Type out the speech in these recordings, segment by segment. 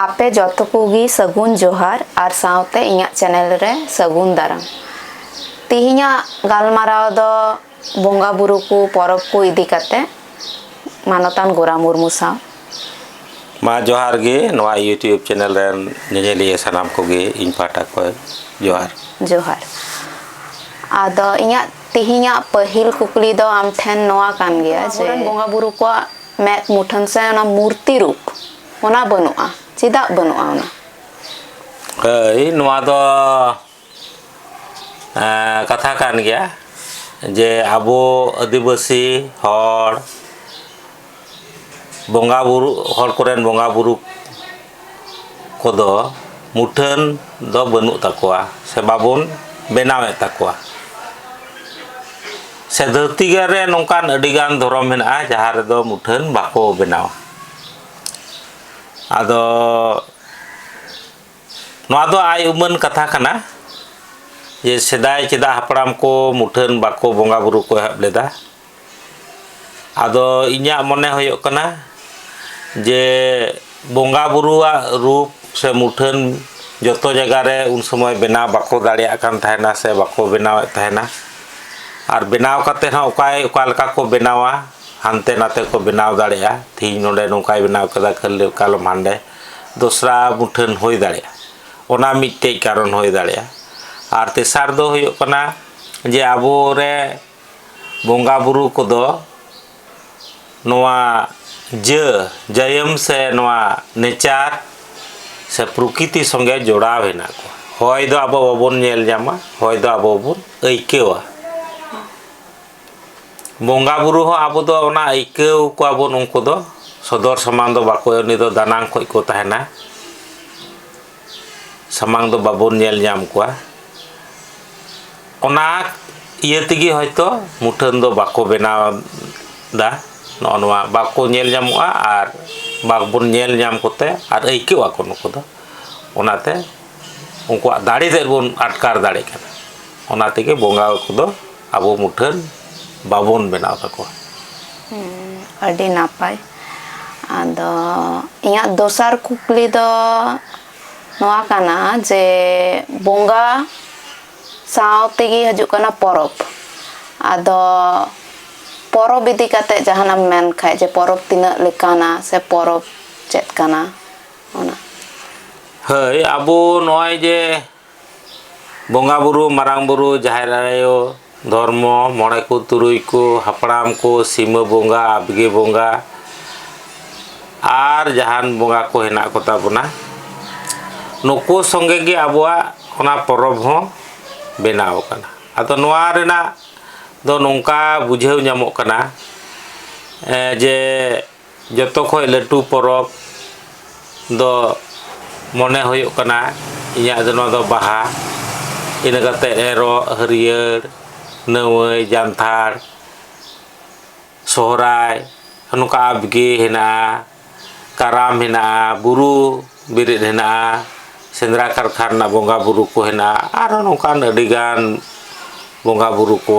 ᱟᱯᱮ ᱡᱚᱛᱚ ᱠᱚᱜᱮ ᱥᱟᱹᱜᱩᱱ ᱡᱚᱦᱟᱨ ᱟᱨ ᱥᱟᱶᱛᱮ ᱤᱧᱟᱹᱜ ᱪᱮᱱᱮᱞ ᱨᱮ ᱥᱟᱹᱜᱩᱱ ᱫᱟᱨᱟᱢ ᱛᱮᱦᱮᱧᱟᱜ ᱜᱟᱞᱢᱟᱨᱟᱣ ᱫᱚ ᱵᱚᱸᱜᱟ ᱵᱩᱨᱩ ᱠᱚ ᱯᱚᱨᱚᱵᱽ ᱠᱚ ᱤᱫᱤ ᱠᱟᱛᱮ ᱢᱟᱱᱚᱛᱟᱱ ᱜᱳᱨᱟ ᱢᱩᱨᱢᱩ ᱥᱟᱶ ᱢᱟ ᱡᱚᱦᱟᱨ ᱜᱮ ᱱᱚᱣᱟ ᱤᱭᱩᱴᱤᱭᱩᱵᱽ ᱪᱮᱱᱮᱞ ᱨᱮᱱ ᱧᱮᱧᱮᱞᱤᱭᱟᱹ ᱥᱟᱱᱟᱢ ᱠᱚᱜᱮ ᱤᱧ ᱯᱟᱦᱴᱟ ᱠᱷᱚᱱ ᱡᱚᱦᱟᱨ ᱡᱚᱦᱟᱨ ᱟᱫᱚ ᱤᱧᱟᱹᱜ ᱛᱮᱦᱮᱧᱟᱜ ᱯᱟᱹᱦᱤᱞ ᱠᱩᱠᱞᱤ ᱫᱚ ᱟᱢ ᱴᱷᱮᱱ ᱱᱚᱣᱟ ᱠᱟᱱ ᱜᱮᱭᱟ ᱡᱮ ᱟᱵᱚᱨᱮᱱ ᱵᱚᱸᱜᱟ ᱵᱩᱨᱩ ᱠᱚᱣᱟᱜ ᱢᱮᱫ ᱢᱩᱴᱷᱟᱹᱱ ᱥᱮ ᱚᱱᱟ ᱢᱩᱨᱛᱤ ᱨᱩᱯ ᱚᱱᱟ ᱵᱟᱹᱱᱩᱜᱼᱟ ᱪᱮᱫᱟᱜ ᱵᱟᱹᱱᱩᱜᱼᱟ ᱚᱱᱟ ᱦᱳᱭ ᱱᱚᱣᱟ ᱫᱚ ᱠᱟᱛᱷᱟ ᱠᱟᱱ ᱜᱮᱭᱟ ᱡᱮ ᱟᱵᱚ ᱟᱹᱫᱤᱵᱟᱹᱥᱤ ᱦᱚᱲ ᱵᱚᱸᱜᱟ ᱵᱩᱨᱩ ᱦᱚᱲ ᱠᱚᱨᱮᱱ ᱵᱚᱸᱜᱟ ᱵᱩᱨᱩ ᱠᱚᱫᱚ ᱢᱩᱴᱷᱟᱹᱱ ᱫᱚ ᱵᱟᱹᱱᱩᱜ ᱛᱟᱠᱚᱣᱟ ᱥᱮ ᱵᱟᱵᱚᱱ ᱵᱮᱱᱟᱣᱮᱫ ᱛᱟᱠᱚᱣᱟ ᱥᱮ ᱫᱷᱟᱹᱨᱛᱤ ᱨᱮ ᱱᱚᱝᱠᱟᱱ ᱟᱹᱰᱤᱜᱟᱱ ᱫᱷᱚᱨᱚᱢ ᱢᱮᱱᱟᱜᱼᱟ ᱡᱟᱦᱟᱸ ᱨᱮᱫᱚ ᱢᱩᱴᱷᱟᱹᱱ ᱵᱟᱠᱚ ᱵᱮᱱᱟᱣᱟ ᱟᱫᱚ ᱱᱚᱣᱟ ᱫᱚ ᱟᱭ ᱩᱢᱟᱹᱱ ᱠᱟᱛᱷᱟ ᱠᱟᱱᱟ ᱡᱮ ᱥᱮᱫᱟᱭ ᱪᱮᱫᱟᱜ ᱦᱟᱯᱲᱟᱢ ᱠᱚ ᱢᱩᱴᱷᱟᱹᱱ ᱵᱟᱠᱚ ᱵᱚᱸᱜᱟ ᱵᱩᱨᱩ ᱠᱚ ᱮᱦᱚᱵ ᱞᱮᱫᱟ ᱟᱫᱚ ᱤᱧᱟᱹᱜ ᱢᱚᱱᱮ ᱦᱩᱭᱩᱜ ᱠᱟᱱᱟ ᱡᱮ ᱵᱚᱸᱜᱟ ᱵᱩᱨᱩᱣᱟᱜ ᱨᱩᱯ ᱥᱮ ᱢᱩᱴᱷᱟᱹᱱ ᱡᱚᱛᱚ ᱡᱟᱭᱜᱟ ᱨᱮ ᱩᱱ ᱥᱚᱢᱚᱭ ᱵᱮᱱᱟᱣ ᱵᱟᱠᱚ ᱫᱟᱲᱮᱭᱟᱜ ᱠᱟᱱ ᱛᱟᱦᱮᱱᱟ ᱥᱮ ᱵᱟᱠᱚ ᱵᱮᱱᱟᱣᱮᱫ ᱛᱟᱦᱮᱱᱟ ᱟᱨ ᱵᱮᱱᱟᱣ ᱠᱟᱛᱮᱫ ᱦᱚᱸ ᱚᱠᱚᱭ ᱚᱠᱟ ᱞᱮᱠᱟ ᱠᱚ ᱵᱮᱱᱟᱣᱟ ᱦᱟᱱᱛᱮ ᱱᱟᱛᱮ ᱠᱚ ᱵᱮᱱᱟᱣ ᱫᱟᱲᱮᱭᱟᱜᱼᱟ ᱛᱮᱦᱮᱧ ᱱᱚᱰᱮ ᱱᱚᱝᱠᱟᱭ ᱵᱮᱱᱟᱣ ᱠᱮᱫᱟ ᱠᱟᱞᱚᱢ ᱦᱟᱰᱮ ᱫᱚᱥᱨᱟ ᱢᱩᱴᱷᱟᱹᱱ ᱦᱩᱭ ᱫᱟᱲᱮᱭᱟᱜᱼᱟ ᱚᱱᱟ ᱢᱤᱫᱴᱮᱱ ᱠᱟᱨᱚᱱ ᱦᱩᱭ ᱫᱟᱲᱮᱭᱟᱜᱼᱟ ᱟᱨ ᱛᱮᱥᱟᱨ ᱫᱚ ᱦᱩᱭᱩᱜ ᱠᱟᱱᱟ ᱡᱮ ᱟᱵᱚ ᱨᱮ ᱵᱚᱸᱜᱟ ᱵᱩᱨᱩ ᱠᱚᱫᱚ ᱱᱚᱣᱟ ᱡᱟᱹ ᱡᱟᱹᱭᱟᱹᱢ ᱥᱮ ᱱᱚᱣᱟ ᱱᱮᱪᱟᱨ ᱥᱮ ᱯᱨᱚᱠᱤᱛᱤ ᱥᱚᱸᱜᱮ ᱡᱚᱲᱟᱣ ᱦᱮᱱᱟᱜ ᱠᱚᱣᱟ ᱦᱚᱭ ᱫᱚ ᱟᱵᱚ ᱵᱟᱵᱚᱱ ᱧᱮᱞ ᱧᱟᱢᱟ ᱦᱚᱭ ᱫᱚ ᱟᱵᱚ ᱵᱚᱱ ᱟᱹᱭᱠᱟᱹᱣᱟ ᱵᱚᱸᱜᱟ ᱵᱩᱨᱩ ᱦᱚᱸ ᱟᱵᱚ ᱫᱚ ᱚᱱᱟ ᱟᱹᱭᱠᱟᱹᱣ ᱠᱚᱣᱟ ᱵᱚᱱ ᱩᱱᱠᱩ ᱫᱚ ᱥᱚᱫᱚᱨ ᱥᱟᱢᱟᱝ ᱫᱚ ᱵᱟᱠᱚ ᱩᱱᱤ ᱫᱚ ᱫᱟᱱᱟᱝ ᱠᱷᱚᱱ ᱠᱚ ᱛᱟᱦᱮᱱᱟ ᱥᱟᱢᱟᱝ ᱫᱚ ᱵᱟᱵᱚᱱ ᱧᱮᱞ ᱧᱟᱢ ᱠᱚᱣᱟ ᱚᱱᱟ ᱤᱭᱟᱹ ᱛᱮᱜᱮ ᱦᱚᱭᱛᱳ ᱢᱩᱴᱷᱟᱹᱱ ᱫᱚ ᱵᱟᱠᱚ ᱵᱮᱱᱟᱣ ᱫᱟ ᱱᱚᱜᱼᱚ ᱱᱚᱣᱟ ᱵᱟᱠᱚ ᱧᱮᱞ ᱧᱟᱢᱚᱜᱼᱟ ᱟᱨ ᱵᱟᱵᱚᱱ ᱧᱮᱞ ᱧᱟᱢ ᱠᱚᱛᱮ ᱟᱨ ᱟᱹᱭᱠᱟᱹᱣ ᱟᱠᱚ ᱱᱩᱠᱩ ᱫᱚ ᱚᱱᱟᱛᱮ ᱩᱱᱠᱩᱣᱟᱜ ᱫᱟᱲᱮ ᱛᱮᱫ ᱵᱚᱱ ᱟᱴᱠᱟᱨ ᱫᱟᱲᱮᱜ ᱠᱟᱱᱟ ᱚᱱᱟ ᱛᱮᱜᱮ ᱵᱚᱸᱜᱟ ᱠᱚᱫᱚ ᱟᱵᱚ ᱢᱩᱴᱷᱟᱹᱱ ᱵᱟᱵᱚᱱ ᱵᱮᱱᱟᱣ ᱛᱟᱠᱚᱣᱟ ᱟᱹᱰᱤ ᱱᱟᱯᱟᱭ ᱟᱫᱚ ᱤᱧᱟᱹᱜ ᱫᱚᱥᱟᱨ ᱠᱩᱠᱞᱤ ᱫᱚ ᱱᱚᱣᱟ ᱠᱟᱱᱟ ᱡᱮ ᱵᱚᱸᱜᱟ ᱥᱟᱶ ᱛᱮᱜᱮ ᱦᱤᱡᱩᱜ ᱠᱟᱱᱟ ᱯᱚᱨᱚᱵᱽ ᱟᱫᱚ ᱯᱚᱨᱚᱵᱽ ᱤᱫᱤ ᱠᱟᱛᱮ ᱡᱟᱦᱟᱱᱟᱜ ᱮᱢ ᱢᱮᱱ ᱠᱷᱟᱡ ᱡᱮ ᱯᱚᱨᱚᱵᱽ ᱛᱤᱱᱟᱹᱜ ᱞᱮᱠᱟᱱᱟ ᱥᱮ ᱯᱚᱨᱚᱵᱽ ᱪᱮᱫ ᱠᱟᱱᱟ ᱚᱱᱟ ᱦᱳᱭ ᱟᱵᱚ ᱱᱚᱜᱼᱚᱭ ᱡᱮ ᱵᱚᱸᱜᱟ ᱵᱩᱨᱩ ᱢᱟᱨᱟᱝ ᱵᱩᱨᱩ ᱡᱟᱦᱮᱨ ᱟᱭᱳ ᱫᱷᱚᱨᱢᱚ ᱢᱚᱬᱮ ᱠᱚ ᱛᱩᱨᱩᱭ ᱠᱚ ᱦᱟᱯᱲᱟᱢ ᱠᱚ ᱥᱤᱢᱟᱹ ᱵᱚᱸᱜᱟ ᱟᱵᱽᱜᱮ ᱵᱚᱸᱜᱟ ᱟᱨ ᱡᱟᱦᱟᱱ ᱵᱚᱸᱜᱟ ᱠᱚ ᱦᱮᱱᱟᱜ ᱠᱚᱛᱟ ᱵᱚᱱᱟ ᱱᱩᱠᱩ ᱥᱚᱸᱜᱮ ᱜᱮ ᱟᱵᱚᱣᱟᱜ ᱚᱱᱟ ᱯᱚᱨᱚᱵᱽ ᱦᱚᱸ ᱵᱮᱱᱟᱣ ᱟᱠᱟᱱᱟ ᱟᱫᱚ ᱱᱚᱣᱟ ᱨᱮᱱᱟᱜ ᱫᱚ ᱱᱚᱝᱠᱟ ᱵᱩᱡᱷᱟᱹᱣ ᱧᱟᱢᱚᱜ ᱠᱟᱱᱟ ᱡᱮ ᱡᱚᱛᱚ ᱠᱷᱚᱡ ᱞᱟᱹᱴᱩ ᱯᱚᱨᱚᱵᱽ ᱫᱚ ᱢᱚᱱᱮ ᱦᱩᱭᱩᱜ ᱠᱟᱱᱟ ᱤᱧᱟᱹᱜ ᱫᱚ ᱱᱚᱣᱟ ᱫᱚ ᱵᱟᱦᱟ ᱤᱱᱟᱹ ᱠᱟᱛᱮ ᱮᱨᱚᱜ ᱦᱟᱹᱨᱭᱟᱹᱲ ᱱᱟᱹᱣᱟᱹᱭ ᱡᱟᱱᱛᱷᱟᱲ ᱥᱚᱦᱨᱟᱭ ᱱᱚᱝᱠᱟ ᱟᱯᱜᱮ ᱦᱮᱱᱟᱜᱼᱟ ᱠᱟᱨᱟᱢ ᱦᱮᱱᱟᱜᱼᱟ ᱵᱩᱨᱩ ᱵᱮᱨᱮᱫ ᱦᱮᱱᱟᱜᱼᱟ ᱥᱮᱸᱫᱽᱨᱟ ᱠᱟᱨᱠᱟ ᱨᱮᱱᱟᱜ ᱵᱚᱸᱜᱟᱼᱵᱩᱨᱩ ᱠᱚ ᱦᱮᱱᱟᱜᱼᱟ ᱟᱨᱦᱚᱸ ᱱᱚᱝᱠᱟᱱ ᱟᱹᱰᱤᱜᱟᱱ ᱵᱚᱸᱜᱟᱼᱵᱩᱨᱩ ᱠᱚ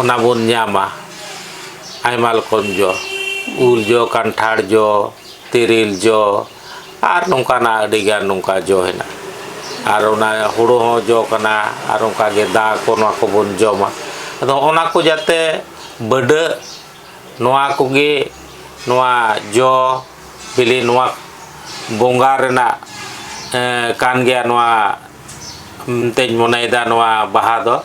ᱚᱱᱟ ᱵᱚᱱ ᱧᱟᱢᱟ ᱟᱭᱢᱟ ᱨᱚᱠᱚᱢ ᱡᱚ ᱩᱞ ᱡᱚ ᱠᱟᱱᱴᱷᱟᱲ ᱡᱚ ᱛᱮᱨᱮᱞ ᱡᱚ ᱟᱨ ᱱᱚᱝᱠᱟᱱᱟᱜ ᱟᱹᱰᱤ ᱜᱟᱱ ᱱᱚᱝᱠᱟ ᱡᱚ ᱦᱮᱱᱟᱜᱼᱟ ᱟᱨ ᱚᱱᱟ ᱦᱳᱲᱳ ᱦᱚᱸ ᱡᱚ ᱠᱟᱱᱟ ᱟᱨ ᱚᱱᱠᱟᱜᱮ ᱫᱟ ᱠᱚ ᱱᱚᱣᱟ ᱠᱚᱵᱚᱱ ᱡᱚᱢᱟ ᱟᱫᱚ ᱚᱱᱟ ᱠᱚ ᱡᱟᱛᱮ ᱵᱟᱹᱰᱟᱹᱜ ᱱᱚᱣᱟ ᱠᱚᱜᱮ ᱱᱚᱣᱟ ᱡᱚ ᱵᱤᱞᱤ ᱱᱚᱣᱟ ᱵᱚᱸᱜᱟ ᱨᱮᱱᱟᱜ ᱠᱟᱱ ᱜᱮᱭᱟ ᱱᱚᱣᱟ ᱢᱮᱱᱛᱮᱧ ᱢᱚᱱᱮᱭᱮᱫᱟ ᱱᱚᱣᱟ ᱵᱟᱦᱟ ᱫᱚ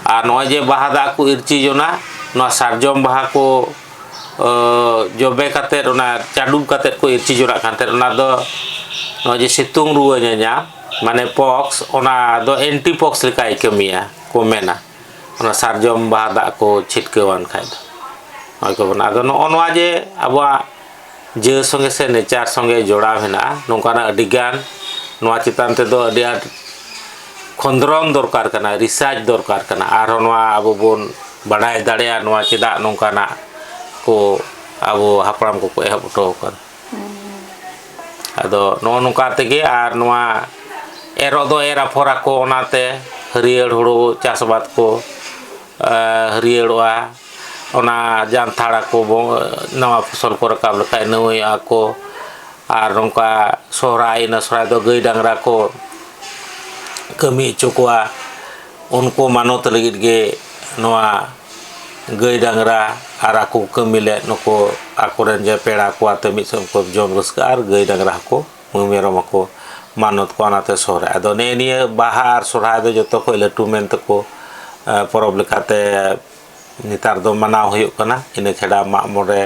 ᱟᱨ ᱱᱚᱜᱼᱚᱭ ᱡᱮ ᱵᱟᱦᱟ ᱫᱟᱜ ᱠᱚ ᱤᱨᱪᱤ ᱡᱚᱱᱟᱜ ᱱᱚᱣᱟ ᱥᱟᱨᱡᱚᱢ ᱵᱟᱦᱟ ᱠᱚ ᱡᱚᱵᱮ ᱠᱟᱛᱮᱫ ᱚᱱᱟ ᱪᱟᱰᱚ ᱠᱟᱛᱮᱫ ᱠᱚ ᱤᱨᱪᱤ ᱡᱚᱱᱟᱜ ᱠᱟᱱ ᱛᱟᱦᱮᱸᱫ ᱚᱱᱟ ᱫᱚ ᱱᱚᱜᱼᱚᱭ ᱡᱮ ᱥᱤᱛᱩᱝ ᱨᱩᱣᱟᱹ ᱧᱟᱧᱟᱢ ᱢᱟᱱᱮ ᱯᱚᱠᱥ ᱚᱱᱟ ᱫᱚ ᱮᱱᱴᱤ ᱯᱚᱠᱥ ᱞᱮᱠᱟᱭ ᱠᱟᱹᱢᱤᱭᱟ ᱠᱚ ᱢᱮᱱᱟ ᱚᱱᱟ ᱥᱟᱨᱡᱚᱢ ᱵᱟᱦᱟ ᱫᱟᱜ ᱠᱚ ᱪᱷᱤᱴᱠᱟᱹᱣᱟᱱ ᱠᱷᱟᱡ ᱫᱚ ᱱᱚᱜᱼᱚᱭ ᱠᱚ ᱵᱮᱱᱟᱣ ᱟᱫᱚ ᱱᱚᱜᱼᱚ ᱱᱚᱣᱟ ᱡᱮ ᱟᱵᱚᱣᱟᱜ ᱡᱟᱹ ᱥᱚᱸᱜᱮ ᱥᱮ ᱱᱮᱪᱟᱨ ᱥᱚᱸᱜᱮ ᱡᱚᱲᱟᱣ ᱦᱮᱱᱟᱜᱼᱟ ᱱᱚᱝᱠᱟᱱᱟᱜ ᱟᱹᱰᱤ ᱜᱟᱱ ᱱᱚᱣᱟ ᱪᱮᱛᱟᱱ ᱛᱮᱫᱚ ᱟᱹᱰᱤ ᱟᱸᱴ ᱠᱷᱚᱸᱫᱽᱨᱚᱱ ᱫᱚᱨᱠᱟᱨ ᱠᱟᱱᱟ ᱨᱤᱥᱟᱨᱪ ᱫᱚᱨᱠᱟᱨ ᱠᱟᱱᱟ ᱟᱨᱦᱚᱸ ᱱᱚᱣᱟ ᱟᱵᱚ ᱵᱚᱱ ᱵᱟᱰᱟᱭ ᱫᱟᱲᱮᱭᱟᱜᱼᱟ ᱱᱚᱣᱟ ᱪᱮᱫᱟᱜ ᱱᱚᱝᱠᱟᱱᱟᱜ ᱠᱚ ᱟᱵᱚ ᱦᱟᱯᱲᱟᱢ ᱠᱚᱠᱚ ᱮᱦᱚᱵ ᱦᱚᱴᱚᱣ ᱠᱟᱫᱟ ᱟᱫᱚ ᱱᱚᱜᱼᱚ ᱱᱚᱝᱠᱟ ᱛᱮᱜᱮ ᱟᱨ ᱱᱚᱣᱟ ᱮᱨᱚᱜ ᱫᱚ ᱮᱨ ᱟᱯᱷᱚᱨ ᱟᱠᱚ ᱚᱱᱟᱛᱮ ᱦᱟᱹᱨᱭᱟᱹᱲ ᱦᱩᱲᱩ ᱪᱟᱥ ᱟᱵᱟᱫ ᱠᱚ ᱦᱟᱹᱨᱭᱟᱹᱲᱚᱜᱼᱟ ᱚᱱᱟ ᱡᱟᱱᱛᱷᱟᱲ ᱟᱠᱚ ᱱᱟᱣᱟ ᱯᱷᱚᱥᱚᱞ ᱠᱚ ᱨᱟᱠᱟᱵ ᱞᱮᱠᱷᱟᱡ ᱱᱟᱹᱣᱟᱹᱭᱚᱜᱼᱟ ᱠᱚ ᱟᱨ ᱱᱚᱝᱠᱟ ᱥᱚᱦᱨᱟᱭ ᱮᱱᱟ ᱥᱚᱦᱨᱟᱭ ᱫᱚ ᱜᱟᱹᱭ ᱰᱟᱝᱨᱟ ᱠᱚ ᱠᱟᱹᱢᱤ ᱦᱚᱪᱚ ᱠᱚᱣᱟ ᱩᱱᱠᱩ ᱢᱟᱱᱚᱛ ᱞᱟᱹᱜᱤᱫ ᱜᱮ ᱱᱚᱣᱟ ᱜᱟᱹᱭ ᱰᱟᱝᱨᱟ ᱟᱨ ᱟᱠᱚ ᱠᱚ ᱠᱟᱹᱢᱤ ᱞᱮᱫ ᱱᱩᱠᱩ ᱟᱠᱚᱨᱮᱱ ᱡᱟᱦᱟᱸᱭ ᱯᱮᱲᱟ ᱠᱚ ᱟᱛᱮ ᱢᱤᱫ ᱥᱚᱝᱜᱮ ᱛᱮᱠᱚ ᱡᱚᱢ ᱨᱟᱹᱥᱠᱟᱹᱜᱼᱟ ᱟᱨ ᱜᱟᱹᱭ ᱰᱟᱝᱨᱟ ᱦᱚᱸᱠᱚ ᱢᱤᱦᱩ ᱢᱮᱨᱚᱢ ᱦᱚᱸᱠᱚ ᱢᱟᱱᱚᱛ ᱠᱚᱣᱟ ᱚᱱᱟᱛᱮ ᱥᱚᱦᱨᱟᱭ ᱟᱫᱚ ᱱᱮᱜᱼᱮ ᱱᱤᱭᱟᱹ ᱵᱟᱦᱟ ᱟᱨ ᱥᱚᱦᱨᱟᱭ ᱫᱚ ᱡᱚᱛᱚ ᱠᱷᱚᱱ ᱞᱟᱹᱴᱩ ᱢᱮᱱ ᱛᱮᱠᱚ ᱯᱚᱨᱚᱵᱽ ᱞᱮᱠᱟᱛᱮ ᱱᱮᱛᱟᱨ ᱫᱚ ᱢᱟᱱᱟᱣ ᱦᱩᱭᱩᱜ ᱠᱟᱱᱟ ᱤᱱᱟᱹ ᱪᱷᱟᱰᱟ ᱢᱟᱜ ᱢᱚᱬᱮ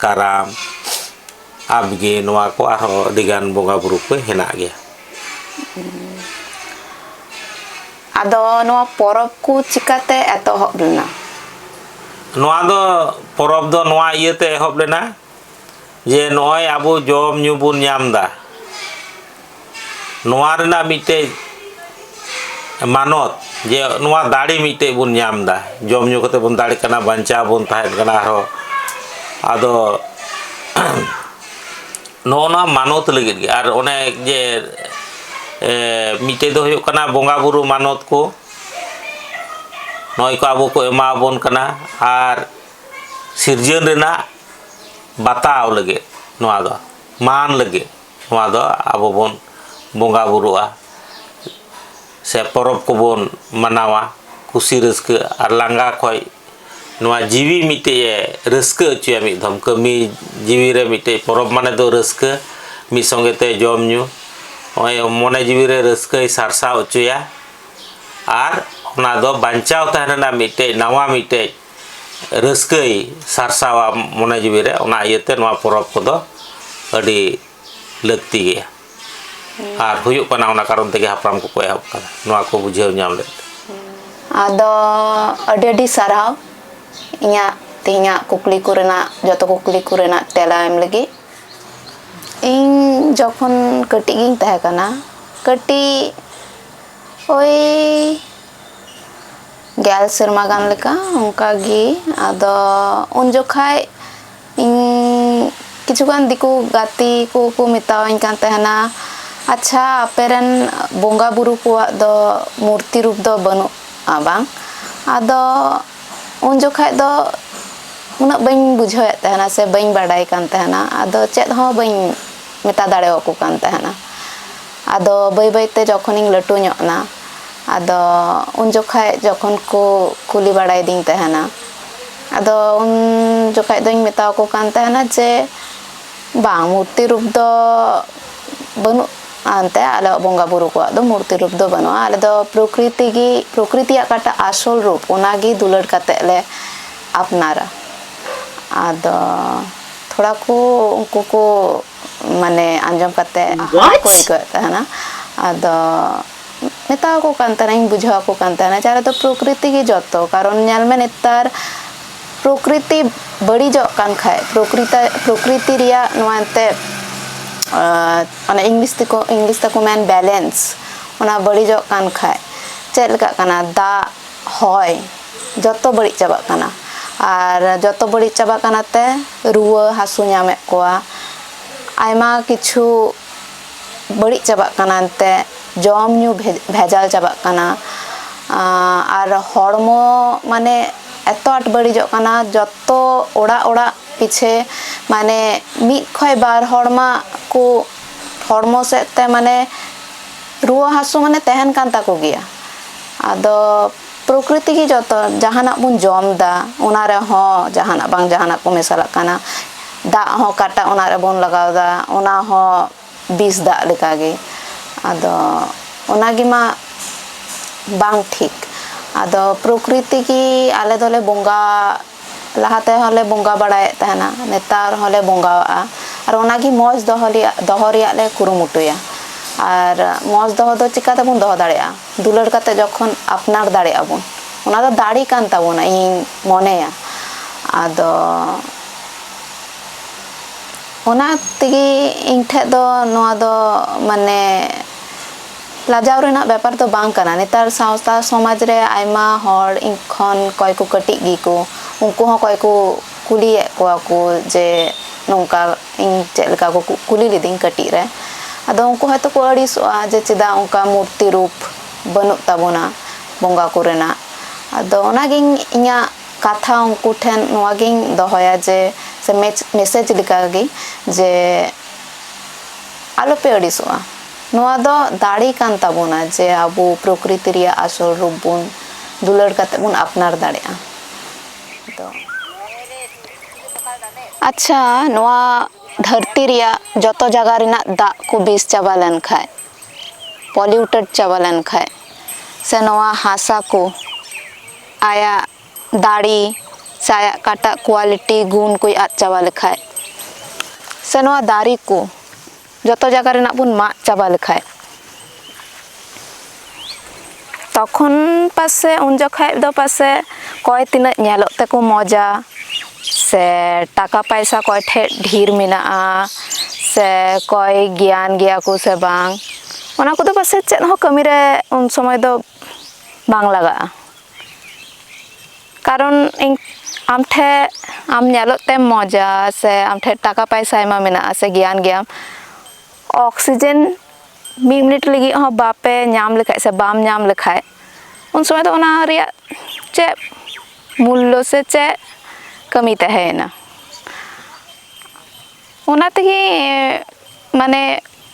ᱠᱟᱨᱟᱢ ᱟᱵᱽᱜᱮ ᱱᱚᱣᱟ ᱠᱚ ᱟᱨᱦᱚᱸ ᱟᱹᱰᱤᱜᱟᱱ ᱵᱚᱸᱜᱟᱼᱵᱩᱨᱩ ᱠᱚ ᱦᱮᱱᱟᱜ ᱜᱮᱭᱟ ᱟᱫᱚ ᱱᱚᱣᱟ ᱯᱚᱨᱚᱵᱽ ᱠᱚ ᱪᱤᱠᱟᱛᱮ ᱮᱛᱚᱦᱚᱵ ᱞᱮᱱᱟ? ᱱᱚᱣᱟ ᱫᱚ ᱯᱚᱨᱚᱵᱽ ᱫᱚ ᱱᱚᱣᱟ ᱤᱭᱟᱹᱛᱮ ᱮᱦᱚᱵ ᱞᱮᱱᱟ ᱡᱮ ᱱᱚᱜᱼᱚᱭ ᱟᱵᱚ ᱡᱚᱢ ᱧᱩ ᱵᱚᱱ ᱧᱟᱢ ᱮᱫᱟ ᱱᱚᱣᱟ ᱨᱮᱱᱟᱜ ᱢᱤᱫᱴᱮᱡ ᱢᱟᱱᱚᱛ ᱡᱮ ᱱᱚᱣᱟ ᱫᱟᱲᱮ ᱢᱤᱫᱴᱮᱡ ᱵᱚᱱ ᱧᱟᱢ ᱮᱫᱟ ᱡᱚᱢ ᱧᱩ ᱠᱟᱛᱮ ᱵᱚᱱ ᱫᱟᱲᱮᱜ ᱠᱟᱱᱟ ᱵᱟᱧᱪᱟᱣ ᱵᱚᱱ ᱛᱟᱦᱮᱱ ᱠᱟᱱᱟ ᱟᱨᱦᱚᱸ ᱟᱫᱚ ᱱᱚᱜᱼᱚ ᱱᱚᱣᱟ ᱢᱟᱱᱚᱛ ᱞᱟᱹᱜᱤᱫ ᱜᱮ ᱟᱨ ᱚᱱᱮ ᱡᱮ ᱢᱤᱫᱴᱮᱡ ᱫᱚ ᱦᱩᱭᱩᱜ ᱠᱟᱱᱟ ᱵᱚᱸᱜᱟ ᱵᱩᱨᱩ ᱢᱟᱱᱚᱛ ᱠᱚ ᱱᱚᱜᱼᱚᱭ ᱠᱚ ᱟᱵᱚ ᱠᱚ ᱮᱢᱟ ᱵᱚᱱ ᱠᱟᱱᱟ ᱟᱨ ᱥᱤᱨᱡᱟᱹᱱ ᱨᱮᱱᱟᱜ ᱵᱟᱛᱟᱣ ᱞᱟᱹᱜᱤᱫ ᱱᱚᱣᱟ ᱫᱚ ᱢᱟᱱ ᱞᱟᱹᱜᱤᱫ ᱱᱚᱣᱟ ᱫᱚ ᱟᱵᱚ ᱵᱚᱱ ᱵᱚᱸᱜᱟ ᱵᱩᱨᱩᱜᱼᱟ ᱥᱮ ᱯᱚᱨᱚᱵᱽ ᱠᱚᱵᱚᱱ ᱢᱟᱱᱟᱣᱟ ᱠᱩᱥᱤ ᱨᱟᱹᱥᱠᱟᱹ ᱟᱨ ᱞᱟᱸᱜᱟ ᱠᱷᱚᱱ ᱱᱚᱣᱟ ᱡᱤᱣᱤ ᱢᱤᱫᱴᱮᱱ ᱮ ᱨᱟᱹᱥᱠᱟᱹ ᱦᱚᱪᱚᱭᱟ ᱢᱤᱫ ᱫᱷᱚᱢ ᱠᱟᱹᱢᱤ ᱡᱤᱣᱤ ᱨᱮ ᱢᱤᱫᱴᱮᱱ ᱯᱚᱨᱚᱵᱽ ᱢᱟᱱᱮ ᱫᱚ ᱨᱟᱹᱥᱠᱟᱹ ᱢᱤᱫ ᱥᱚᱸᱜᱮ ᱛᱮ ᱡᱚᱢ ᱧᱩ ᱱᱚᱜᱼᱚᱭ ᱢᱚᱱᱮ ᱡᱤᱣᱤ ᱨᱮ ᱨᱟᱹᱥᱠᱟᱹᱭ ᱥᱟᱨᱥᱟᱣ ᱦᱚᱪᱚᱭᱟ ᱟᱨ ᱚᱱᱟ ᱫᱚ ᱵᱟᱧᱪᱟᱣ ᱛᱟᱦᱮᱱ ᱨᱮᱱᱟᱜ ᱢᱤᱫᱴᱮᱱ ᱱᱟᱣᱟ ᱢᱤᱫᱴᱮᱱ ᱨᱟᱹᱥᱠᱟᱹᱭ ᱥᱟᱨᱥᱟᱣᱟ ᱢᱚᱱᱮ ᱡᱤᱣᱤ ᱨᱮ ᱚᱱᱟ ᱤᱭᱟᱹᱛᱮ ᱱᱚᱣᱟ ᱯᱚᱨᱚᱵᱽ ᱠᱚᱫᱚ ᱟᱹᱰᱤ ᱞᱟᱹᱠᱛᱤ ᱜᱮᱭᱟ ᱟᱨ ᱦᱩᱭᱩᱜ ᱠᱟᱱᱟ ᱚᱱᱟ ᱠᱟᱨᱚᱱ ᱛᱮᱜᱮ ᱦᱟᱯᱲᱟᱢ ᱠᱚᱠᱚ ᱮᱦᱚᱵ ᱠᱟᱫᱟ ᱱᱚᱣᱟ ᱠᱚ ᱵᱩᱡᱷᱟᱹᱣ ᱧᱟᱢ ᱞᱮᱫ ᱟᱫᱚ ᱟᱹᱰᱤ ᱟᱹᱰᱤ ᱥᱟᱨᱦᱟᱣ ᱤᱧᱟᱹᱜ ᱛᱮᱦᱮᱧᱟᱜ ᱠᱩᱠᱞᱤ ᱠᱚ ᱨᱮᱱᱟᱜ ᱡᱚᱛᱚ ᱠᱩᱠᱞᱤ ᱠᱚ ᱨᱮᱱᱟᱜ ᱛᱮᱞᱟ ᱮᱢ ᱞᱟᱹᱜᱤᱫ ᱤᱧ ᱡᱚᱠᱷᱚᱱ ᱠᱟᱹᱴᱤᱡ ᱜᱤᱧ ᱛᱟᱦᱮᱸ ᱠᱟᱱᱟ ᱠᱟᱹᱴᱤᱡ ᱳᱭ ᱜᱮᱞ ᱥᱮᱨᱢᱟ ᱜᱟᱱ ᱞᱮᱠᱟ ᱚᱱᱠᱟᱜᱮ ᱟᱫᱚ ᱩᱱ ᱡᱚᱠᱷᱟᱡ ᱤᱧ ᱠᱤᱪᱷᱩᱜᱟᱱ ᱫᱤᱠᱩ ᱜᱟᱛᱮ ᱠᱚᱠᱚ ᱢᱮᱛᱟᱣᱟᱹᱧ ᱠᱟᱱ ᱛᱟᱦᱮᱱᱟ ᱟᱪᱪᱷᱟ ᱟᱯᱮ ᱨᱮᱱ ᱵᱚᱸᱜᱟ ᱵᱩᱨᱩ ᱠᱚᱣᱟᱜ ᱫᱚ ᱢᱩᱨᱛᱤ ᱨᱩᱯ ᱫᱚ ᱵᱟᱹᱱᱩᱜᱼᱟ ᱵᱟᱝ ᱟᱫᱚ ᱩᱱ ᱡᱚᱠᱷᱟᱡ ᱫᱚ ᱩᱱᱟᱹᱜ ᱵᱟᱹᱧ ᱵᱩᱡᱷᱟᱹᱣᱮᱫ ᱛᱟᱦᱮᱱᱟ ᱥᱮ ᱵᱟᱹᱧ ᱵᱟᱰᱟᱭ ᱠᱟᱱ ᱛᱟᱦᱮᱱᱟ ᱟᱫᱚ ᱪᱮᱫ ᱦᱚᱸ ᱵᱟᱹᱧ ᱢᱮᱛᱟ ᱫᱟᱲᱮᱣᱟᱠᱚ ᱠᱟᱱ ᱛᱟᱦᱮᱱᱟ ᱟᱫᱚ ᱵᱟᱹᱭ ᱵᱟᱹᱭ ᱛᱮ ᱡᱚᱠᱷᱚᱱ ᱤᱧ ᱞᱟᱹᱴᱩ ᱧᱚᱜ ᱮᱱᱟ ᱟᱫᱚ ᱩᱱ ᱡᱚᱠᱷᱟᱡ ᱡᱚᱠᱷᱚᱱ ᱠᱚ ᱠᱩᱞᱤ ᱵᱟᱲᱟᱭᱮᱫᱤᱧ ᱛᱟᱦᱮᱱᱟ ᱟᱫᱚ ᱩᱱ ᱡᱚᱠᱷᱟᱡ ᱫᱚᱧ ᱢᱮᱛᱟᱣᱟᱠᱚ ᱠᱟᱱ ᱛᱟᱦᱮᱱᱟ ᱡᱮ ᱵᱟᱝ ᱢᱩᱨᱛᱤ ᱨᱩᱯ ᱫᱚ ᱵᱟᱹᱱᱩᱜᱼᱟ ᱮᱱᱛᱮ ᱟᱞᱮᱭᱟᱜ ᱵᱚᱸᱜᱟ ᱵᱩᱨᱩ ᱠᱚᱣᱟᱜ ᱫᱚ ᱢᱩᱨᱛᱤ ᱨᱩᱯ ᱫᱚ ᱵᱟᱹᱱᱩᱜᱼᱟ ᱟᱞᱮ ᱫᱚ ᱯᱨᱚᱠᱨᱤᱛᱤ ᱜᱮ ᱯᱨᱚᱠᱨᱤᱛᱤᱭᱟᱜ ᱚᱠᱟᱴᱟᱜ ᱟᱥᱚᱞ ᱨᱩᱯ ᱚᱱᱟ ᱜᱮ ᱫᱩᱞᱟᱹᱲ ᱠᱟᱛᱮ ᱞᱮ ᱟᱯᱱᱟᱨᱟ ᱟᱫᱚ ᱛᱷᱚᱲᱟ ᱠᱚ ᱩᱱᱠᱩ ᱠᱚ ᱢᱟᱱᱮ ᱟᱸᱡᱚᱢ ᱠᱟᱛᱮ ᱦᱟᱲᱟᱜ ᱠᱚ ᱟᱹᱭᱠᱟᱹᱣᱮᱫ ᱛᱟᱦᱮᱱᱟ ᱟᱫᱚ ᱢᱮᱛᱟᱣ ᱠᱚ ᱠᱟᱱ ᱛᱟᱦᱮᱱᱟᱹᱧ ᱵᱩᱡᱷᱟᱹᱣ ᱟᱠᱚ ᱠᱟᱱ ᱛᱟᱦᱮᱱᱟ ᱡᱟᱦᱟᱸ ᱨᱮᱫᱚ ᱯᱨᱚᱠᱨᱤᱛᱤ ᱜᱮ ᱡᱚᱛᱚ ᱠᱟᱨᱚᱱ ᱧᱮᱞ ᱢᱮ ᱱᱮᱛᱟᱨ ᱯᱨᱚᱠᱨᱤᱛᱤ ᱵᱟᱹᱲᱤᱡᱚᱜ ᱠᱟᱱ ᱠᱷᱟᱡ ᱯᱨᱚᱠᱨᱤᱛᱤ ᱯᱨᱚᱠᱨᱤᱛᱤ ᱨᱮᱭᱟᱜ ᱱᱚᱣᱟ ᱮᱱᱛᱮ ᱚᱱᱟ ᱤᱝᱞᱤᱥ ᱛᱮᱠᱚ ᱤᱝᱞᱤᱥ ᱛᱮᱠᱚ ᱢᱮᱱ ᱵᱮᱞᱮᱱᱥ ᱚᱱᱟ ᱵᱟᱹᱲᱤᱡᱚᱜ ᱠᱟᱱ ᱠᱷᱟᱡ ᱪᱮᱫ ᱞᱮᱠᱟᱜ ᱠᱟᱱᱟ ᱫᱟᱜ ᱦᱚᱭ ᱡᱚᱛᱚ ᱵᱟᱹᱲᱤᱡ ᱪᱟᱵᱟᱜ ᱠᱟᱱᱟ ᱟᱨ ᱡᱚᱛᱚ ᱵᱟᱹᱲᱤᱡ ᱪᱟᱵᱟᱜ ᱠᱟᱱᱟ ᱛᱮ ᱨᱩᱣᱟᱹ ᱦᱟᱹᱥᱩ ᱧᱟᱢᱮᱫ ᱠᱚᱣᱟ ᱟᱭᱢᱟ ᱠᱤᱪᱷᱩ ᱵᱟᱹᱲᱤᱡ ᱪᱟᱵᱟᱜ ᱠᱟᱱᱟ ᱮᱱᱛᱮ ᱡᱚᱢ ᱧᱩ ᱵᱷᱮᱡᱟᱞ ᱪᱟᱵᱟᱜ ᱠᱟᱱᱟ ᱟᱨ ᱦᱚᱲᱢᱚ ᱢᱟᱱᱮ ᱮᱛᱚ ᱟᱸᱴ ᱵᱟᱹᱲᱤᱡᱚᱜ ᱠᱟᱱᱟ ᱡᱚᱛᱚ ᱚᱲᱟᱜ ᱚᱲᱟᱜ ᱯᱤᱪᱷᱮ ᱢᱟᱱᱮ ᱢᱤᱫ ᱠᱷᱚᱡ ᱵᱟᱨ ᱦᱚᱲ ᱢᱟ ᱠᱚ ᱦᱚᱲᱢᱚ ᱥᱮᱫ ᱛᱮ ᱢᱟᱱᱮ ᱨᱩᱣᱟᱹ ᱦᱟᱹᱥᱩ ᱢᱟᱱᱮ ᱛᱟᱦᱮᱱ ᱠᱟᱱ ᱛᱟᱠᱚ ᱜᱮᱭᱟ ᱟᱫᱚ ᱯᱨᱚᱠᱨᱤᱛᱤ ᱜᱮ ᱡᱚᱛᱚ ᱡᱟᱦᱟᱱᱟᱜ ᱵᱚᱱ ᱡᱚᱢ ᱮᱫᱟ ᱚᱱᱟ ᱨᱮᱦᱚᱸ ᱡᱟᱦᱟᱱᱟᱜ ᱵᱟᱝ ᱡᱟᱦᱟᱱᱟᱜ ᱠᱚ ᱢᱮᱥᱟᱞᱟᱜ ᱠᱟᱱᱟ ᱫᱟᱜ ᱦᱚᱸ ᱚᱠᱟᱴᱟᱜ ᱚᱱᱟ ᱨᱮᱵᱚᱱ ᱞᱟᱜᱟᱣ ᱮᱫᱟ ᱚᱱᱟ ᱦᱚᱸ ᱵᱤᱥ ᱫᱟᱜ ᱞᱮᱠᱟ ᱜᱮ ᱟᱫᱚ ᱚᱱᱟ ᱜᱮᱢᱟ ᱵᱟᱝ ᱴᱷᱤᱠ ᱟᱫᱚ ᱯᱨᱚᱠᱨᱤᱛᱤ ᱜᱮ ᱟᱞᱮ ᱫᱚᱞᱮ ᱵᱚᱸᱜᱟ ᱞᱟᱦᱟ ᱛᱮᱦᱚᱸ ᱞᱮ ᱵᱚᱸᱜᱟ ᱵᱟᱲᱟᱭᱮᱫ ᱛᱟᱦᱮᱱᱟ ᱱᱮᱛᱟᱨ ᱦᱚᱸ ᱞᱮ ᱵᱚᱸᱜᱟᱣᱟᱜᱼᱟ ᱟᱨ ᱚᱱᱟ ᱜᱮ ᱢᱚᱡᱽ ᱫᱚᱦᱚ ᱨᱮᱭᱟᱜ ᱫᱚᱦᱚ ᱨᱮᱭᱟᱜ ᱞᱮ ᱠᱩᱨᱩᱢᱩᱴᱩᱭᱟ ᱟᱨ ᱢᱚᱡᱽ ᱫᱚᱦᱚ ᱫᱚ ᱪᱤᱠᱟᱹ ᱛᱮᱵᱚᱱ ᱫᱚᱦᱚ ᱫᱟᱲᱮᱭᱟᱜᱼᱟ ᱫᱩᱞᱟᱹᱲ ᱠᱟᱛᱮ ᱡᱚᱠᱷᱚᱱ ᱟᱯᱱᱟᱨ ᱫᱟᱲᱮᱜ ᱟᱵᱚᱱ ᱚᱱᱟ ᱫᱚ ᱫᱟᱲᱮ ᱠᱟᱱ ᱛᱟᱵᱚᱱᱟ ᱤᱧᱤᱧ ᱢᱚᱱᱮᱭᱟ ᱟᱫᱚ ᱚᱱᱟ ᱛᱮᱜᱮ ᱤᱧ ᱴᱷᱮᱱ ᱫᱚ ᱱᱚᱣᱟ ᱫᱚ ᱢᱟᱱᱮ ᱞᱟᱡᱟᱣ ᱨᱮᱱᱟᱜ ᱵᱮᱯᱟᱨ ᱫᱚ ᱵᱟᱝ ᱠᱟᱱᱟ ᱱᱮᱛᱟᱨ ᱥᱟᱶᱛᱟ ᱥᱚᱢᱟᱡᱽ ᱨᱮ ᱟᱭᱢᱟ ᱦᱚᱲ ᱤᱧ ᱠᱷᱚᱱ ᱚᱠᱚᱭ ᱠᱚ ᱠᱟᱹᱴᱤᱡ ᱜᱮᱠᱚ ᱩᱱᱠᱩ ᱦᱚᱸ ᱚᱠᱚᱭ ᱠᱚ ᱠᱩᱞᱤᱭᱮᱫ ᱠᱚᱣᱟ ᱠᱚ ᱡᱮ ᱱᱚᱝᱠᱟ ᱤᱧ ᱪᱮᱫ ᱞᱮᱠᱟ ᱠᱚ ᱠᱩᱞᱤ ᱞᱤᱫᱤᱧ ᱠᱟᱹᱴᱤᱡ ᱨᱮ ᱟᱫᱚ ᱩᱱᱠᱩ ᱦᱚᱭᱛᱳ ᱠᱚ ᱟᱹᱲᱤᱥᱚᱜᱼᱟ ᱡᱮ ᱪᱮᱫᱟᱜ ᱚᱱᱠᱟ ᱢᱩᱨᱛᱤ ᱨᱩᱯ ᱵᱟᱹᱱᱩᱜ ᱛᱟᱵᱚᱱᱟ ᱵᱚᱸᱜᱟ ᱠᱚᱨᱮᱱᱟᱜ ᱟᱫᱚ ᱚᱱᱟ ᱜᱮ ᱤᱧᱟᱹᱜ ᱠᱟᱛᱷᱟ ᱩᱱᱠᱩ ᱴᱷᱮᱱ ᱱᱚᱣᱟ ᱜᱮᱧ ᱫᱚᱦᱚᱭᱟ ᱡᱮ ᱥᱮ ᱢᱮᱥᱮᱡᱽ ᱞᱮᱠᱟ ᱜᱮ ᱡᱮ ᱟᱞᱚ ᱯᱮ ᱟᱹᱲᱤᱥᱚᱜᱼᱟ ᱱᱚᱣᱟ ᱫᱚ ᱫᱟᱲᱮ ᱠᱟᱱ ᱛᱟᱵᱚᱱᱟ ᱡᱮ ᱟᱵᱚ ᱯᱨᱚᱠᱨᱤᱛᱤ ᱨᱮᱭᱟᱜ ᱟᱥᱚᱞ ᱨᱩᱯ ᱵᱚᱱ ᱫᱩᱞᱟᱹᱲ ᱠᱟᱛᱮ ᱵᱚᱱ ᱟᱯᱱᱟᱨ ᱫᱟᱲᱮᱭᱟᱜᱼᱟ ᱟᱫᱚ ᱟᱪᱪᱷᱟ ᱱᱚᱣᱟ ᱫᱷᱟᱹᱨᱛᱤ ᱨᱮᱭᱟᱜ ᱡᱚᱛᱚ ᱡᱟᱭᱜᱟ ᱨᱮᱱᱟᱜ ᱫᱟᱜ ᱠᱚ ᱵᱤᱥ ᱪᱟᱵᱟ ᱞᱮᱱ ᱠᱷᱟᱡ ᱯᱚᱞᱤᱭᱩᱴᱮᱰ ᱪᱟᱵᱟ ᱞᱮᱱ ᱠᱷᱟᱡ ᱥᱮ ᱱᱚᱣᱟ ᱦᱟᱥᱟ ᱠᱚ ᱟᱭᱟᱜ ᱫᱟᱲᱮ ᱥᱮ ᱟᱭᱟᱜ ᱚᱠᱟᱴᱟᱜ ᱠᱳᱣᱟᱞᱤᱴᱤ ᱜᱩᱱ ᱠᱚᱭ ᱟᱫ ᱪᱟᱵᱟ ᱞᱮᱠᱷᱟᱡ ᱥᱮ ᱱᱚᱣᱟ ᱫᱟᱨᱮ ᱠᱚ ᱡᱚᱛᱚ ᱡᱟᱭᱜᱟ ᱨᱮᱱᱟᱜ ᱵᱚᱱ ᱢᱟᱜ ᱪᱟᱵᱟ ᱞᱮᱠᱷᱟᱡ ᱛᱚᱠᱷᱚᱱ ᱯᱟᱥᱮᱡ ᱩᱱ ᱡᱚᱠᱷᱟᱡ ᱫᱚ ᱯᱟᱥᱮᱡ ᱚᱠᱚᱭ ᱛᱤᱱᱟᱹᱜ ᱧᱮᱞᱚᱜ ᱛᱮᱠᱚ ᱢᱚᱡᱟ ᱥᱮ ᱴᱟᱠᱟ ᱯᱟᱭᱥᱟ ᱚᱠᱚᱭ ᱴᱷᱮᱡ ᱰᱷᱮᱨ ᱢᱮᱱᱟᱜᱼᱟ ᱥᱮ ᱚᱠᱚᱭ ᱜᱮᱭᱟᱱ ᱜᱮᱭᱟ ᱠᱚ ᱥᱮ ᱵᱟᱝ ᱚᱱᱟ ᱠᱚᱫᱚ ᱯᱟᱥᱮᱡ ᱪᱮᱫ ᱦᱚᱸ ᱠᱟᱹᱢᱤ ᱨᱮ ᱩᱱ ᱥᱚᱢᱚᱭ ᱫᱚ ᱵᱟᱝ ᱞᱟᱜᱟᱜᱼᱟ ᱠᱟᱨᱚᱱ ᱤᱧ ᱟᱢ ᱴᱷᱮᱱ ᱟᱢ ᱧᱮᱞᱚᱜ ᱛᱮᱢ ᱢᱚᱡᱟ ᱥᱮ ᱟᱢ ᱴᱷᱮᱱ ᱴᱟᱠᱟ ᱯᱚᱭᱥᱟ ᱟᱭᱢᱟ ᱢᱮᱱᱟᱜᱼᱟ ᱥᱮ ᱜᱮᱭᱟᱱ ᱜᱮᱭᱟᱢ ᱚᱠᱥᱤᱡᱮᱱ ᱢᱤᱫ ᱢᱤᱱᱤᱴ ᱞᱟᱹᱜᱤᱫ ᱦᱚᱸ ᱵᱟᱯᱮ ᱧᱟᱢ ᱞᱮᱠᱷᱟᱱ ᱥᱮ ᱵᱟᱢ ᱧᱟᱢ ᱞᱮᱠᱷᱟᱱ ᱩᱱ ᱥᱚᱢᱚᱭ ᱫᱚ ᱚᱱᱟ ᱨᱮᱭᱟᱜ ᱪᱮᱫ ᱢᱩᱞᱞᱚ ᱥᱮ ᱪᱮᱫ ᱠᱟᱹᱢᱤ ᱛᱟᱦᱮᱸᱭᱮᱱᱟ ᱚᱱᱟ ᱛᱮᱜᱮ ᱢᱟᱱᱮ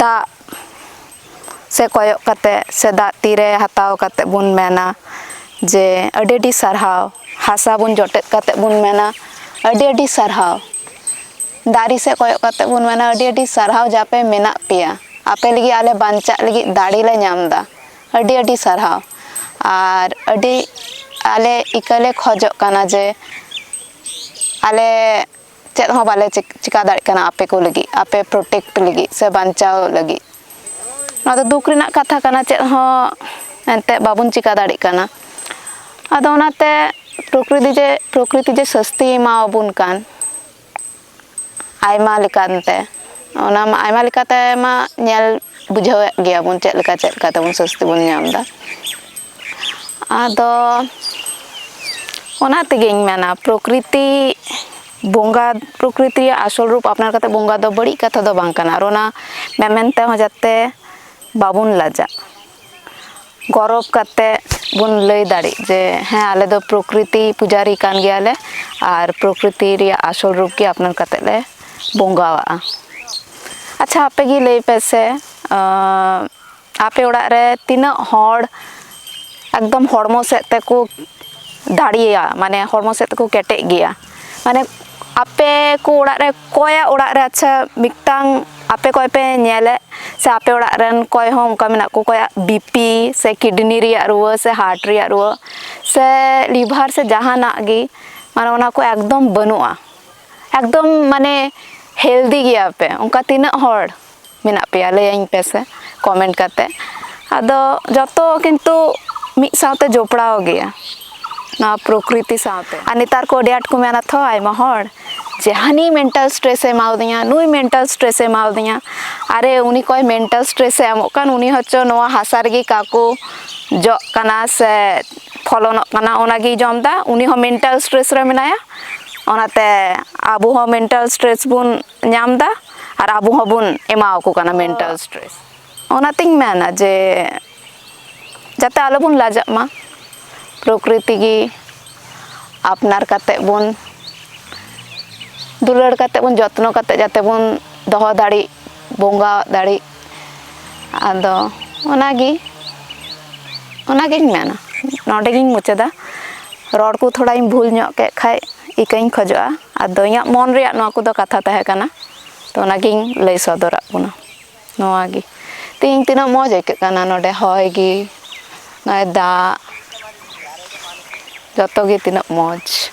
ᱫᱟᱜ ᱥᱮᱫ ᱠᱚᱭᱚᱜ ᱠᱟᱛᱮ ᱥᱮ ᱫᱟᱜ ᱛᱤᱨᱮ ᱦᱟᱛᱟᱣ ᱠᱟᱛᱮ ᱵᱚᱱ ᱢᱮᱱᱟ ᱡᱮ ᱟᱹᱰᱤ ᱟᱹᱰᱤ ᱥᱟᱨᱦᱟᱣ ᱦᱟᱥᱟ ᱵᱚᱱ ᱡᱚᱴᱮᱫ ᱠᱟᱛᱮ ᱵᱚᱱ ᱢᱮᱱᱟ ᱟᱹᱰᱤ ᱟᱹᱰᱤ ᱥᱟᱨᱦᱟᱣ ᱫᱟᱨᱮ ᱥᱮᱫ ᱠᱚᱭᱚᱜ ᱠᱟᱛᱮ ᱵᱚᱱ ᱢᱮᱱᱟ ᱟᱹᱰᱤ ᱟᱹᱰᱤ ᱥᱟᱨᱦᱟᱣ ᱡᱮ ᱟᱯᱮ ᱢᱮᱱᱟᱜ ᱯᱮᱭᱟ ᱟᱯᱮ ᱞᱟᱹᱜᱤᱫ ᱟᱞᱮ ᱵᱟᱧᱪᱟᱜ ᱞᱟᱹᱜᱤᱫ ᱫᱟᱲᱮ ᱞᱮ ᱧᱟᱢ ᱮᱫᱟ ᱟᱹᱰᱤ ᱟᱹᱰᱤ ᱥᱟᱨᱦᱟᱣ ᱟᱨ ᱟᱹᱰᱤ ᱟᱞᱮ ᱤᱠᱟᱹᱞᱮ ᱠᱷᱚᱡᱚᱜ ᱠᱟᱱᱟ ᱡᱮ ᱟᱞᱮ ᱪᱮᱫ ᱦᱚᱸ ᱵᱟᱞᱮ ᱪᱮᱠᱟ ᱫᱟᱲᱮᱭᱟᱜ ᱠᱟᱱᱟ ᱟᱯᱮ ᱠᱚ ᱞᱟᱹᱜᱤᱫ ᱟᱯᱮ ᱯᱨᱳᱴᱮᱠᱴ ᱞᱟᱹᱜᱤᱫ ᱥᱮ ᱵᱟᱧᱪᱟᱣ ᱞᱟᱹᱜᱤᱫ ᱱᱚᱣᱟ ᱫᱚ ᱫᱩᱠ ᱨᱮᱱᱟᱜ ᱠᱟᱛᱷᱟ ᱠᱟᱱᱟ ᱪᱮᱫ ᱦᱚᱸ ᱮᱱᱛᱮᱫ ᱵᱟᱵᱚᱱ ᱪᱮᱠᱟ ᱫᱟᱲᱮᱭᱟᱜ ᱠᱟᱱᱟ ᱟᱫᱚ ᱚᱱᱟᱛᱮ ᱯᱨᱚᱠᱨᱤᱛᱤ ᱡᱮ ᱯᱨᱚᱠᱨᱤᱛᱤ ᱡᱮ ᱥᱟᱹᱥᱛᱤ ᱮᱢᱟ ᱟᱵᱚᱱ ᱠᱟᱱ ᱟᱭᱢᱟ ᱞᱮᱠᱟᱱ ᱛᱮ ᱚᱱᱟ ᱢᱟ ᱟᱭᱢᱟ ᱞᱮᱠᱟᱛᱮ ᱢᱟ ᱧᱮᱞ ᱵᱩᱡᱷᱟᱹᱣᱮᱫ ᱜᱮᱭᱟ ᱵᱚᱱ ᱪᱮᱫ ᱞᱮᱠᱟ ᱪᱮᱫ ᱞᱮᱠᱟ ᱛᱮᱵᱚᱱ ᱥᱟᱹᱥᱛᱤ ᱵᱚᱱ ᱧᱟᱢ ᱮᱫᱟ ᱟᱫᱚ ᱚᱱᱟ ᱛᱮᱜᱮᱧ ᱢᱮᱱᱟ ᱯᱨᱚᱠᱨᱤᱛᱤ ᱵᱚᱸᱜᱟ ᱯᱨᱚᱠᱨᱤᱛᱤ ᱨᱮᱭᱟᱜ ᱟᱥᱚᱞ ᱨᱩᱯ ᱟᱯᱱᱟᱨ ᱠᱟᱛᱮ ᱵᱚᱸᱜᱟ ᱫᱚ ᱵᱟᱹᱲᱤᱡ ᱠᱟᱛᱷᱟ ᱫᱚ ᱵᱟᱝ ᱠᱟᱱᱟ ᱟᱨ ᱚᱱᱟ ᱢᱮᱢᱮᱱ ᱛᱮᱦᱚᱸ ᱡᱟᱛᱮ ᱵᱟᱵᱚᱱ ᱞᱟᱡᱟᱜ ᱜᱚᱨᱚᱵᱽ ᱠᱟᱛᱮ ᱵᱚᱱ ᱞᱟᱹᱭ ᱫᱟᱲᱮᱜ ᱡᱮ ᱦᱮᱸ ᱟᱞᱮ ᱫᱚ ᱯᱨᱚᱠᱨᱤᱛᱤ ᱯᱩᱡᱟᱨᱤ ᱠᱟᱱ ᱜᱮᱭᱟᱞᱮ ᱟᱨ ᱯᱨᱚᱠᱨᱤᱛᱤ ᱨᱮᱭᱟᱜ ᱟᱥᱚᱞ ᱨᱩᱯ ᱜᱮ ᱟᱯᱱᱟᱨ ᱠᱟᱛᱮ ᱞᱮ ᱵᱚᱸᱜᱟᱣᱟᱜᱼᱟ ᱟᱪᱪᱷᱟ ᱟᱯᱮ ᱜᱮ ᱞᱟᱹᱭ ᱯᱮᱥᱮ ᱟᱯᱮ ᱚᱲᱟᱜ ᱨᱮ ᱛᱤᱱᱟᱹᱜ ᱦᱚᱲ ᱮᱠᱫᱚᱢ ᱦᱚᱲᱢᱚ ᱥᱮᱫ ᱛᱮᱠᱚ ᱫᱟᱲᱮᱭᱟ ᱢᱟᱱᱮ ᱦᱚᱲᱢᱚ ᱥᱮᱫ ᱛᱮᱠᱚ ᱠᱮᱴᱮᱡ ᱜᱮᱭᱟ ᱢᱟᱱᱮ ᱟᱯᱮ ᱠᱚ ᱚᱲᱟᱜ ᱨᱮ ᱚᱠᱚᱭᱟᱜ ᱚᱲᱟᱜ ᱨᱮ ᱟᱪᱪᱷᱟ ᱢᱤᱫᱴᱟᱝ ᱟᱯᱮ ᱚᱠᱚᱭ ᱯᱮ ᱧᱮᱞᱮᱫ ᱥᱮ ᱟᱯᱮ ᱚᱲᱟᱜ ᱨᱮᱱ ᱚᱠᱚᱭ ᱦᱚᱸ ᱚᱱᱠᱟ ᱢᱮᱱᱟᱜ ᱠᱚ ᱚᱠᱚᱭᱟᱜ ᱵᱤᱯᱤ ᱥᱮ ᱠᱤᱰᱱᱤ ᱨᱮᱭᱟᱜ ᱨᱩᱣᱟᱹ ᱥᱮ ᱦᱟᱨᱴ ᱨᱮᱭᱟᱜ ᱨᱩᱣᱟᱹ ᱥᱮ ᱞᱤᱵᱷᱟᱨ ᱥᱮ ᱡᱟᱦᱟᱱᱟᱜ ᱜᱮ ᱢᱟᱱᱮ ᱚᱱᱟ ᱠᱚ ᱮᱠᱫᱚᱢ ᱵᱟᱹᱱᱩᱜᱼᱟ ᱮᱠᱫᱚᱢ ᱢᱟᱱᱮ ᱦᱮᱞᱫᱤ ᱜᱮᱭᱟᱯᱮ ᱚᱱᱠᱟ ᱛᱤᱱᱟᱹᱜ ᱦᱚᱲ ᱢᱮᱱᱟᱜ ᱯᱮᱭᱟ ᱞᱟᱹᱭᱟᱹᱧ ᱯᱮᱥᱮ ᱠᱚᱢᱮᱱᱴ ᱠᱟᱛᱮ ᱟᱫᱚ ᱡᱚᱛᱚ ᱠᱤᱱᱛᱩ ᱢᱤᱫ ᱥᱟᱶᱛᱮ ᱡᱚᱯᱲᱟᱣ ᱜᱮᱭᱟ ᱱᱚᱣᱟ ᱯᱨᱚᱠᱨᱤᱛᱤ ᱥᱟᱶᱛᱮ ᱟᱨ ᱱᱮᱛᱟᱨ ᱠᱚ ᱟᱹᱰᱤ ᱟᱸᱴ ᱠᱚ ᱢᱮᱱᱟ ᱛᱷᱚ ᱟᱭᱢᱟ ᱦᱚᱲ ᱡᱮ ᱦᱟᱹᱱᱤ ᱢᱮᱱᱴᱟᱞ ᱥᱴᱨᱮᱥ ᱮ ᱮᱢᱟᱣᱫᱤᱧᱟ ᱱᱩᱭ ᱢᱮᱱᱴᱟᱞ ᱥᱴᱨᱮᱥ ᱮ ᱮᱢᱟᱣᱫᱤᱧᱟ ᱟᱨᱮ ᱩᱱᱤ ᱚᱠᱚᱭ ᱢᱮᱱᱴᱟᱞ ᱥᱴᱨᱮᱥ ᱮ ᱮᱢᱚᱜ ᱠᱟᱱ ᱩᱱᱤ ᱦᱚᱪᱚ ᱱᱚᱣᱟ ᱦᱟᱥᱟ ᱨᱮᱜᱮ ᱚᱠᱟ ᱠᱚ ᱡᱚᱜ ᱠᱟᱱᱟ ᱥᱮ ᱯᱷᱚᱞᱚᱱᱚᱜ ᱠᱟᱱᱟ ᱚᱱᱟ ᱜᱮᱭ ᱡᱚᱢᱫᱟ ᱩᱱᱤ ᱦᱚᱸ ᱢᱮᱱᱴᱟᱞ ᱥᱴᱨᱮᱥ ᱨᱮ ᱢᱮᱱᱟᱭᱟ ᱚᱱᱟᱛᱮ ᱟᱵᱚ ᱦᱚᱸ ᱢᱮᱱᱴᱟᱞ ᱥᱴᱨᱮᱥ ᱵᱚᱱ ᱧᱟᱢ ᱫᱟ ᱟᱨ ᱟᱵᱚ ᱦᱚᱸᱵᱚᱱ ᱮᱢᱟ ᱟᱠᱚ ᱠᱟᱱᱟ ᱢᱮᱱᱴᱟᱞ ᱥᱴᱨᱮᱥ ᱚᱱᱟᱛᱤᱧ ᱢᱮᱱᱟ ᱡᱮ ᱡᱟᱛᱮ ᱟᱞᱚᱵᱚᱱ ᱞᱟᱡᱟᱜ ᱢᱟ ᱯᱨᱚᱠᱨᱤᱛᱤ ᱜᱮ ᱟᱯᱱᱟᱨ ᱠᱟᱛᱮ ᱵᱚᱱ ᱫᱩᱞᱟᱹᱲ ᱠᱟᱛᱮ ᱵᱚᱱ ᱡᱚᱛᱱᱚ ᱠᱟᱛᱮ ᱡᱟᱛᱮ ᱵᱚᱱ ᱫᱚᱦᱚ ᱫᱟᱲᱮᱜ ᱵᱚᱸᱜᱟ ᱫᱟᱲᱮᱜ ᱟᱫᱚ ᱚᱱᱟᱜᱮ ᱚᱱᱟᱜᱤᱧ ᱢᱮᱱᱟ ᱱᱚᱰᱮ ᱜᱤᱧ ᱢᱩᱪᱟᱹᱫᱟ ᱨᱚᱲ ᱠᱚ ᱛᱷᱚᱲᱟᱧ ᱵᱷᱩᱞ ᱧᱚᱜ ᱠᱮᱜ ᱠᱷᱟᱡ ᱤᱠᱟᱹᱧ ᱠᱷᱚᱡᱚᱜᱼᱟ ᱟᱫᱚ ᱤᱧᱟᱹᱜ ᱢᱚᱱ ᱨᱮᱭᱟᱜ ᱱᱚᱣᱟ ᱠᱚᱫᱚ ᱠᱟᱛᱷᱟ ᱛᱟᱦᱮᱸ ᱠᱟᱱᱟ ᱛᱚ ᱚᱱᱟᱜᱤᱧ ᱞᱟᱹᱭ ᱥᱚᱫᱚᱨᱟᱜ ᱵᱚᱱᱟ ᱱᱚᱣᱟᱜᱮ ᱛᱮᱦᱮᱧ ᱛᱤᱱᱟᱹᱜ ᱢᱚᱡᱽ ᱟᱹᱭᱠᱟᱹᱜ ᱠᱟᱱᱟ ᱱᱚᱰᱮ ᱦᱚᱭ ᱜᱮ ᱱᱚᱜᱼᱚᱭ ᱫᱟᱜ ᱡᱚᱛᱚᱜᱮ ᱛᱤᱱᱟᱹᱜ ᱢᱚᱡᱽ